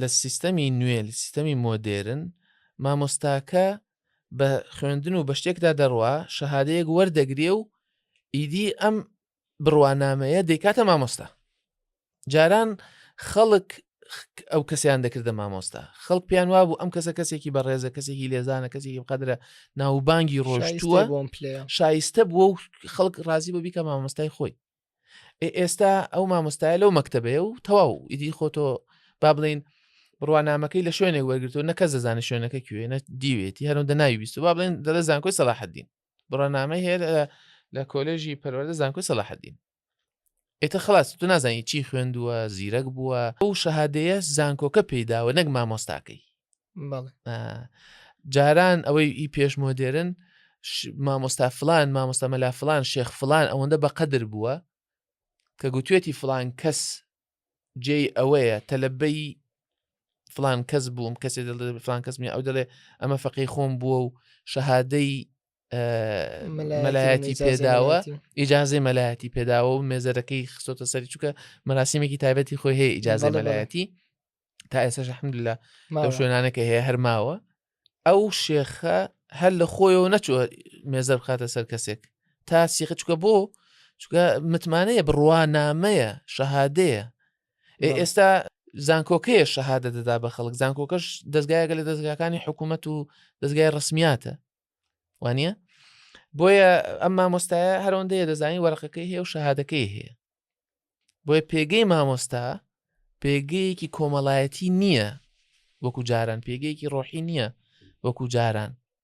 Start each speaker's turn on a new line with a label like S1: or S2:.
S1: لە سیستەمی نوێ لە سیستەمی مۆدێرن مامۆستاکە بە خوێندن و بە شتێکدا دەڕوا شەهادەیەک وەردەگرێ و ئیدی ئەم بڕوانامەیە دەیکاتە مامۆستا جاران خەڵک ئەو کەسیان دەکردە مامۆستا خەڵک پێیان وابوو ئەم کەسە کەسێکی بەڕێزە کەسێکی لێزانە کەسێکی قەدرە ناوبانگی ڕۆژتووە شایستە بووە و خەڵک ڕازی بە بیکە مامۆستای خۆی ئێستا ئەو مامۆستایە لەو مەکتتەبەیە و تەواو ئیدی خۆتۆ با بڵین بڕوانامەکەی لە شوێنێک وەرگتو نەکە زەزانە شوێنەکە کوێ نە دیوێتی هەرم دەناوی بیست با بڵێن دەڵە زانکۆی سەلاحدین بڕنامەی هەیە لە کۆلێژی پەروەەردە زانکۆی سەلاحدین ئێتە خلاص تو نازانی چی خوێندووە زیرەک بووە ئەو شەهادەیە زانکۆکە پێداوە نەک مامۆستاکەی جاران ئەوەی ئی پێش مۆدێرن مامۆستا فلان مامۆستا مەلا فلان شێخ فلان ئەوەندە بە قەدر بووە کە گوتوێتی فلان کەس جێی ئەوەیە تەلبەی فلان کەس بووم کەسێ فلان کەسمی ئەو دەڵێ ئەمە فەقی خۆم بووە و شەهادەی مەلایەتی پێداوە ئیجاازەی مەلایەتی پێداوە و مێزەرەکەی خستۆتە سەری چووکە مەراسیمێکی تایبەتی خۆی هەیە ئیجاازە مەلایەتی تا ئێستا شەحمد لە لەو شوێنانەکە هەیە هەرماوە ئەو شێخە هەر لە خۆیەوە نەچوە مێزە بخاتە سەر کەسێک تا سیخە چکە بۆ چکە متمانەیە بڕوانامەیە شەهادەیە ئێستا زانکۆکەیە شەهادە دەدا بە خەڵک زانکۆکەش دەستگایەکە لە دەستگاکانی حکوومەت و دەستگای ڕسمیاتە وانە بۆیە ئەم مامۆستایە هەرۆندەیە دەزانانی وەرقەکەی هەیە و شەهادەکەی هەیە بۆیە پێگەی مامۆستا پێگەیەکی کۆمەڵایەتی نییە وەکو جاران پێگەیەکی ڕۆحی نییە وەکو جاران